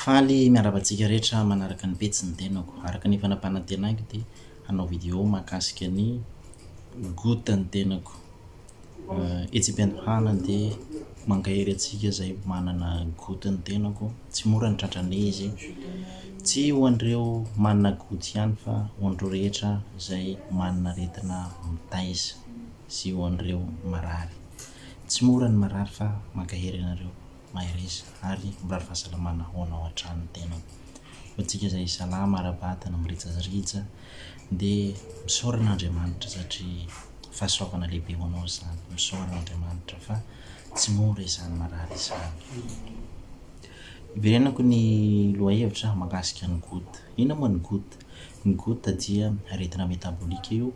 Faly miarahaba antsika rehetra manaraka ny pejy ny tenako. Araka ny fanapanantenako dia hanao vidéo mahakasika ny gout ny tenako. Etsy am-piandohana dia mankahery antsika izay manana goût ny tenako, tsy mora ny tratran'ny izy, tsy ho an'ireo manana goût ihany fa ho an'ireo rehetra izay manana aretina mitaiza sy ho an'ireo marary. Tsy mora ny marary fa mankahery anareo. Mahereza ary mirary fahasalamana ho anao hatrany ny tenako. Ho antsika izay salama ara-batana, mirijajrija dia misaorana Andriamanitra satria fahasoavana lehibe ho anao izany. Misaorana Andriamanitra fa tsy mora izany marary izany. Hiverenako ny lohahevitra mahakasika ny goutte. Inona moa ny goutte? Ny goutte dia aretina metabolika io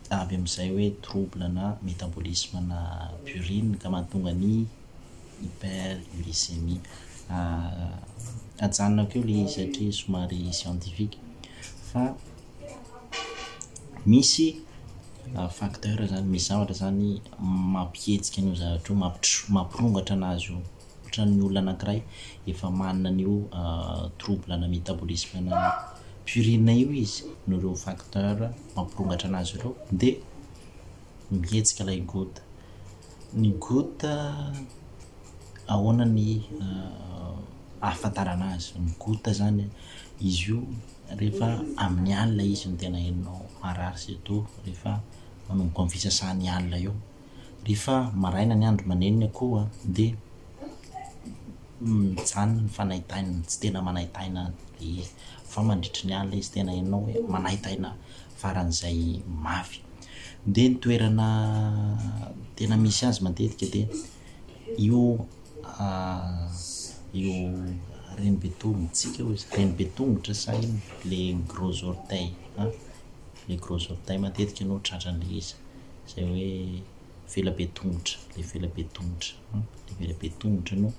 avy amin'izay hoe trouble na métabolisme na purine ka mahatonga ny hyperuricémie. Ajanonako eo le izy satria somary scientifique fa misy facteur zany, misy zavatra zany mampihetsika an'io zavatra io, mampirongatra anazy io. Ohatran'ny olona anankiray efa manana an'io trouble ana métabolisme ana purine io izy noho ireo facteur mampirongatra anazy ireo dia mihetsika ilay gout. Ny gout ahoana ny ahafantarana azy? Ny gout zany izy io rehefa amin'ny alina izy no tena henonao marary surtout rehefa manomboka amin'ny fisasan'ny alina eo. Rehefa maraina ny andro manenina koa dia mijanona ny fanaitaina, tsy tena manaitaina be fa mandritry ny alina izy tena henonao hoe manaitaina faran'izay mafy. Dia ny toerana tena misy azy matetika dia io io reny be tongotsika io, reny be tongotra sa inona, le gros orteil an, le gros orteil matetika no tratran'ilay izy. izay hoe vela be tongotra, ilay vela be tongotra, ilay vela be tongotra no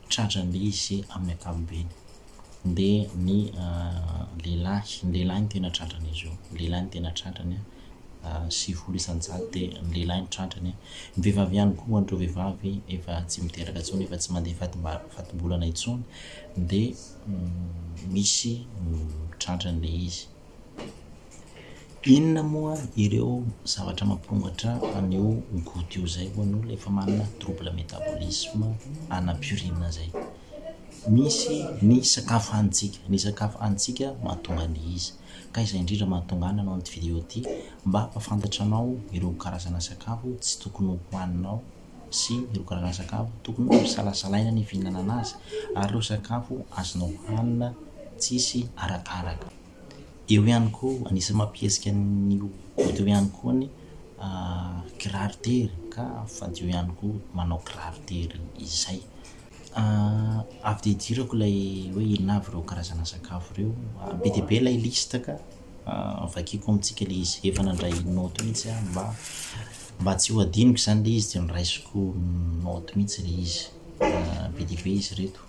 tratran'ilay izy amin'ny ankapobeny. Dia ny lehilahy, ny lehilahy no tena tratran'izy io, ny lehilahy no tena tratrany, sivifolo isan-jato dia ny lehilahy no tratrany. Ny vehivavy ihany koa, ho an'ireo vehivavy efa tsy miteraka intsony, efa tsy mandeha fatim-bary, fatim-bolana intsony dia misy ny tratran'ilay izy. Inona moa ireo zavatra mampirongatra an'io gout io zay ho an'olona efa manana trouble metabolisme ana purine zay? Misy ny sakafo hanintsika, ny sakafo hanintsika mahatonga an'le izy ka izay indrindra mahatonga ahy nanao an'ity vidéo ity mba hampafantatra anao ireo karazana sakafo tsy tokony ho haninao. sy ireo karazana sakafo tokony hosalasalaina ny fihinanana azy ary ireo sakafo azonao hanina tsisy arakaraka. Eo ihany koa, anisan'ny mampihetsika ny ho tonta eo ihany koa ny kiraro tery ka fadio ihany koa manao kiraro tery izay. Avy dia idirako ilay hoe inona avy ireo karazana sakafo ireo, be dia be ilay liste ka. vakiako amintsika le izy efa nandray note mihitsy aho mba mba tsy ho adinoko izany le izy de noraisiko note mihitsy le izy be dia be izy reto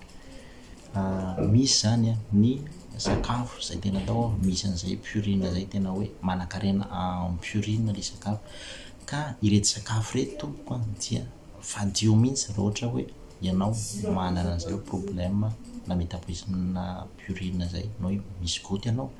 misy izany a ny sakafo izay tena atao aho misy an'izay purine izay tena hoe manankarena en purine le sakafo ka ireto sakafo ireto tompoko a dia fadio mihitsy raha ohatra hoe ianao manana an'izay hoe problème na metabolisme na purine izay na hoe misy gout ianao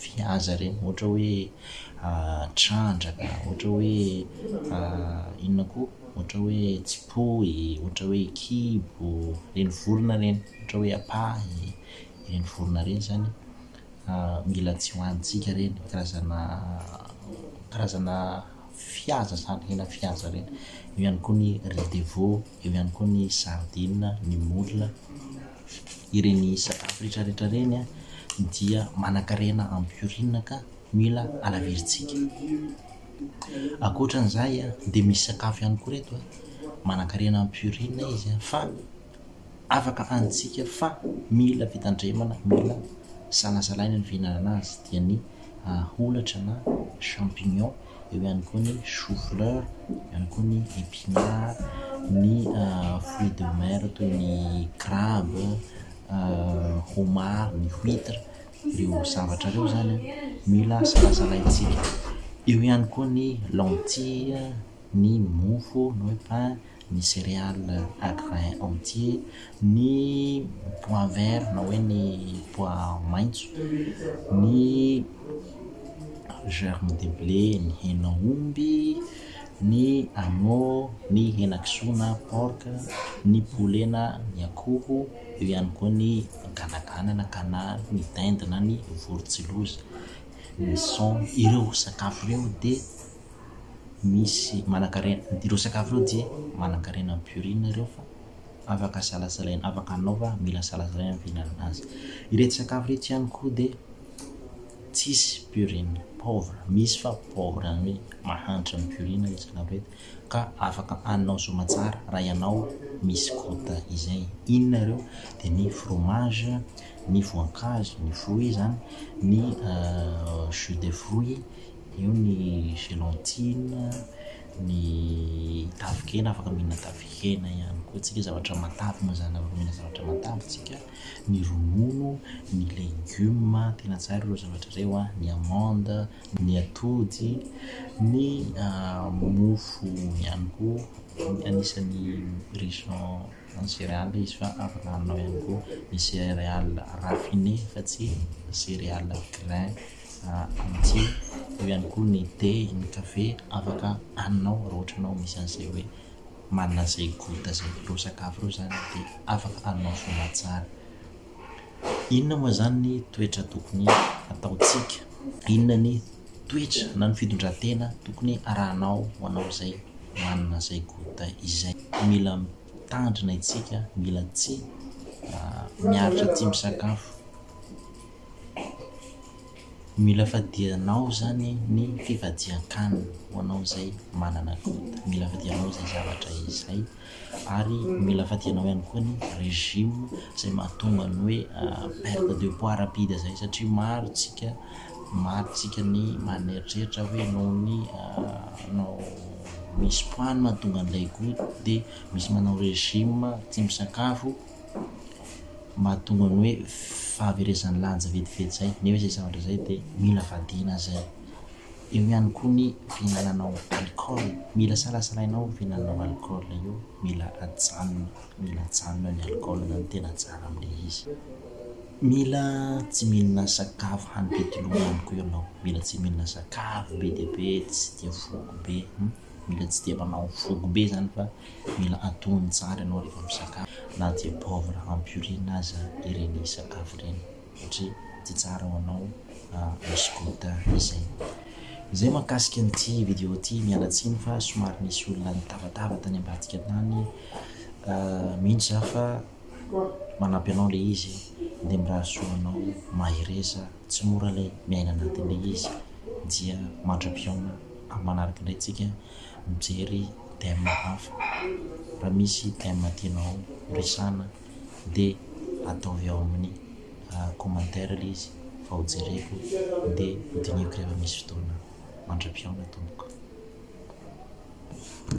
viaza reny ohatra hoe trandraka, ohatra hoe inona koa, ohatra hoe tsipoy, ohatra hoe kibo, ireny vorona ireny, ohatra hoe apahy, ireny vorona ireny izany mila tsy hohanintsika ireny, karazana karazana fihaza izany, hena fihaza ireny. Eo ihany koa ny riz de veau. eo ihany koa ny sardine, ny moule, ireny sakafo retraretra ireny a dia manankarena ampiorina ka mila alavirintsika. Ankoatran'izay a dia misy sakafo ihany koa reto a manankarena ampiorina izy a fa afaka hanintsika fa mila fitandremana, mila salasalaina ny fihinanana azy dia ny. aholatra na champignon, eo ihany koa ny choux fleur, eo ihany koa ny epinard, ny fruits de mer toy ny crabe, homard, ny huitre, ireo zavatra ireo zany mila salasalaintsika, eo ihany koa ny lentilles, ny mofo na hoe pain, ny céréales à grains entiers, ny pois vert na hoe ny pois maitso, ny germes de blé, ny henan'omby, ny agneau, ny henakisoa na porc, ny poulet na ny akoho, eo ihany koa ny ganaganana ka na ny dinde na ny vorontsiloza, ny son, ireo sakafo ireo dia. misy manankarena ireo sakafo ireo dia manankarena am purine ireo fa afaka salasalaina afaka anao fa mila salasalaina ny fihinanana azy ireto sakafo ireto ihany koa dia tsisy purine pauvre misy fa pauvre ny hoe mahantra ny purine ireto sakafo ireto ka afaka anao soamatsara raha ianao misy kota izay inona ireo dia ny fromage ny voankazo ny fruit zany ny jus de fruit Eo ny gelatine, ny tafikena, afaka mihinana tafikena ihany koa tsika, zavatra matavy moa izany, afaka mihinana zavatra matavy tsika, ny ronono, ny legioma, tena tsara ireo zavatra ireo an, ny amande, ny atody, ny mofo ihany koa, anisan'ny riche en céréales izy fa afaka haninao ihany koa ny céréales raffinées fa tsy céréales grains. Amitié, eo ihany koa ny thé, ny café, afaka haninao raha ohatra ianao misy an'izay hoe manana izay goût zay ireo sakafo ireo zany de afaka haninao soa tsara. Inona moa zany ny toetra tokony ataontsika? Inona ny toetra na ny fitondran-tena tokony arahanao ho anao izay manana izay goût izay? Mila mitandrina itsika, mila tsy miaritra tsy misakafo Mila fadianao zany ny fifadian-kanina ho anao izay manana loto. Mila fadianao izay zavatra izay ary mila fadianao ihany koa ny régime izay mahatonga ny hoe perte de poids rapide izay satria maro tsika maro tsika ny maneritreritra hoe noho ny nao misy poids no mahatonga an'ilay gout dia misy manao régime tsy misakafo mahatonga ny hoe fahaverezan'ny lanja vetivety izay nefa izay zavatra izay dia mila vadiana izay. Eo ihany koa ny fihinananao alcool, mila salasalainao io fihinananao alcool io, mila ajanona, mila ajanona ny alcool izany tena tsara amin'ilay izy. Mila tsy mihinana sakafo hany be dia be ihany koa ianao, mila tsy mihinana sakafo be dia be tsy dia voky be. Mila tsy dia manao voky be zany fa mila antonony tsara ianao rehefa misakafo na dia poivre ampiorin aza ireny sakafo ireny satria tsy tsara ho anao misy gluten izay. Izay mahakasika an'ity vidéo ity, miala tsiny fa somary nisy olona nitavatava tany ambadika tany mino za fa manampy anao le izy dia mirary soa ho anao mahereza. Tsy mora ilay miaina anatin'ilay izy dia mandra-pihaona amin'ny manaraka indray tsika mijery thème hafa. Raha misy thème tianao horesahana dia ataovy ao amin'ny commentaire ilay izy fa ho jereko dia ho dinihiko rehefa misy fotoana. Mandra-pihaona tompoko.